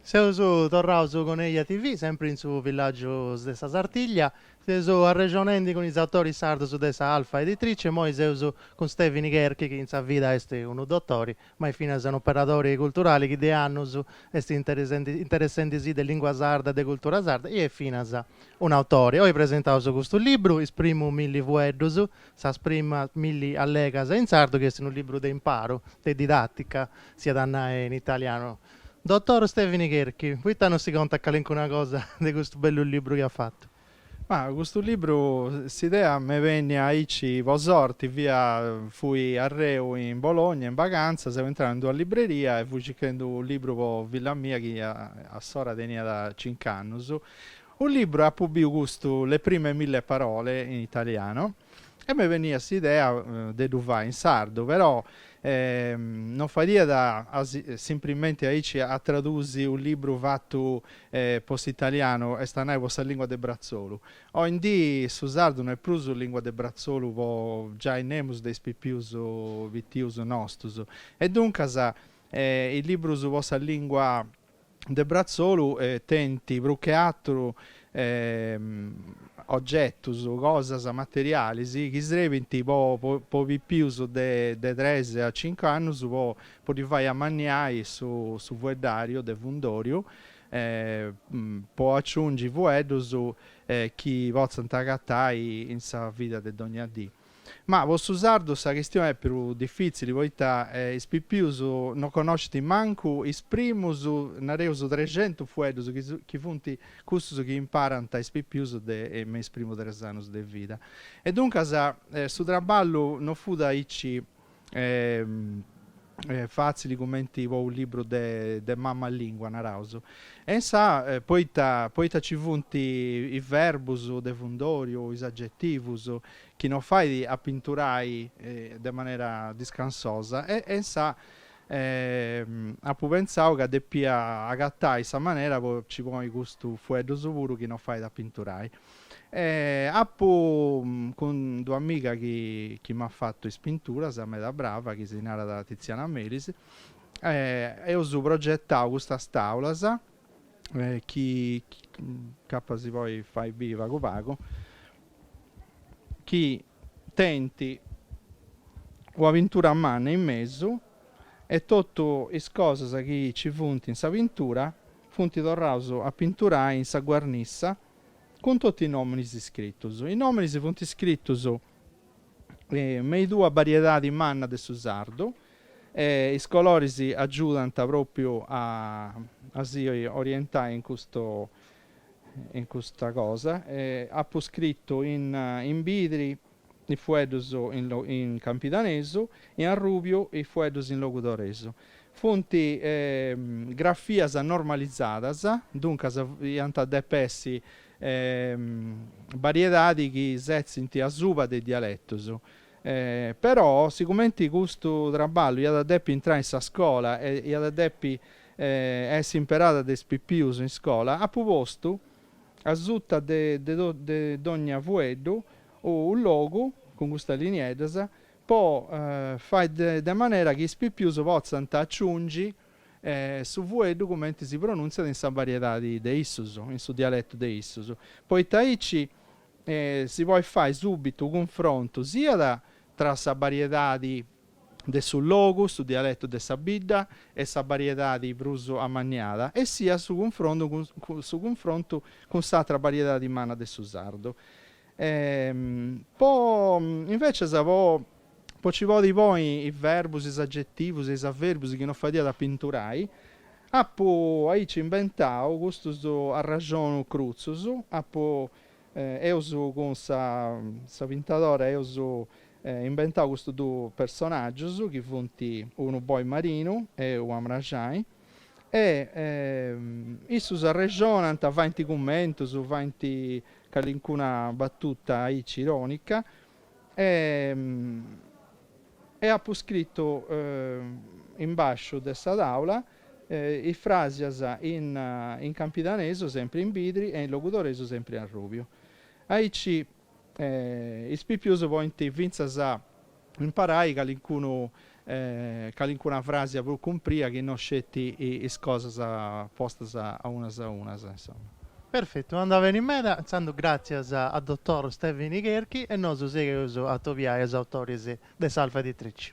Seus torraus cun Eja TV, sempri in su villàgius de sa Sartiglia. Seus arrexonendi cun is autoris sardos de sa Alfa Editrice, imoi seus cun Stevini Cherchi chi in sa vida est unu dotori ma est finas unu operadori culturali chi de annus est interessendi si de lingua sarda e de cultura sarda e est finas un'autore. Oi presentaus custu libru, Is primus milli fueddus, sas primas milli allegas in sardu chi est unu libru de imparu, de didattica s'iat a nai in italianu. Dottor Stevini Cherchi, poita non si contat calincuna cosa de custu bellu libru chi at fatu? Ma custu libru s'idea m'est bennia aici po sorti, fia, fui arreu in Bologna in bagantzas, seu intrau in d'una libreria e fui circhendu unu libru po filla mia chi a s'ora teniat cinc'annus, unu libru e apu biu custu Le prime mille parole in italiano, E m'est bennia s'idea de ddu fai in sardu, però non fadiat simprimenti aici a tradusi unu libru fatu po s'italianu, est a nai po sa lingua de bratzolu. Oi in dì su sardu no est prus lingua de bratzolu po giai nemus de is pipius pitius nostus e duncas is librus po sa lingua de bratzolu tenint prus che atru ogetus, cosas materialis chi srebint po pipius de tres a cincu annus po ddi fai amanniai su fueddàriu de fundòriu, po aciungi fueddus chi potzant agatai in sa vida de dogna dì. Ma po su sardu sa chistioni est prus difìtzili poita is pipius no connoscint mancu is primus, nareus, trexentus fueddus chi funt custus chi imparant is pipius de me is primus tres annus de vida. E duncas su traballu no fut aici fatzili cumenti po unu libru de mamma lingua, naraus. E insaa, poita, poita ci funt is verbus de fundoriu o is agetivus chi non fait a pinturai de manera discansosa, e insaa apu pentzau ca depia agatai sa manera po nci ponni custus fueddus puru chi non fait a pinturai. E apu cund'u amiga chi chi m'at fatu is pinturas, meda brava, chi si narat Tiziana Melis, eus progetau custas tàulas chi incapas si poit fai biri pagu pagu, chi tenint una pintura manna in mesu e totu is cosas chi nci funt in sa pintura funt torraus a pinturai in sa guarnissa cun totu is nòminis iscritus. Is nòminis funt iscritus in is duas bariedadis mannas de su sardu e is coloris agiudant pròpriu a a si orientai in custu in custa cosa. Apu scritu in in birdi is fueddus in campidanesu e in arrubiu is fueddus in logudoresu. Funt grafias normalizadas, duncas iant a depi essi bariedadis chi setzint asuba de is dialetus. Però, sigumenti custu traballu iat a depi intrai in sa scola e iat a depi essi imperada de is pipius in scola, apu postu, Asuta de dogna fueddu unu logu cun custas linieddas po fai de manera chi is pipius potzant aciungi su fueddu cumenti si pronuntziat in sa variedadi de issus, in su dialetu de issus. Poita aici si podit fai subitu unu cunfrontu siat tra sa variedadi de su logu, su dialetu de sa bidda e sa bariedadi prus amanniada, e siat su cunfron su cunfrontu cun s'atra bariedadi manna de su sardu. Po invecias po po ci podi ponni is verbus, is agetivus e is averbus chi no fadiat a pinturai, apu aici imbentau custus arrexonus crutzus, apu eus cun sa sa pintadora eus imbentau custus duus personaggius chi funt unu boi marinu e unu mraxani e issus arrexonant, faint cummentus, faint calincuna battuta aici ironica e e apu scritu in basciu de sa taula is frasias in campidanesu sempri in birdi e in logudoresu sempri in arrubiu. Aici Is pipius podint fintzas imparai calincunu calincuna fràsia prus cumpria chi no sceti is cosas postas a unas a unas, insoma. Perfetu, andat beni meda, intzandus gràtzias a dotor Stèvini Cherchi e nosu sigheus a atobiai is autoris de s'Alfa Editrici.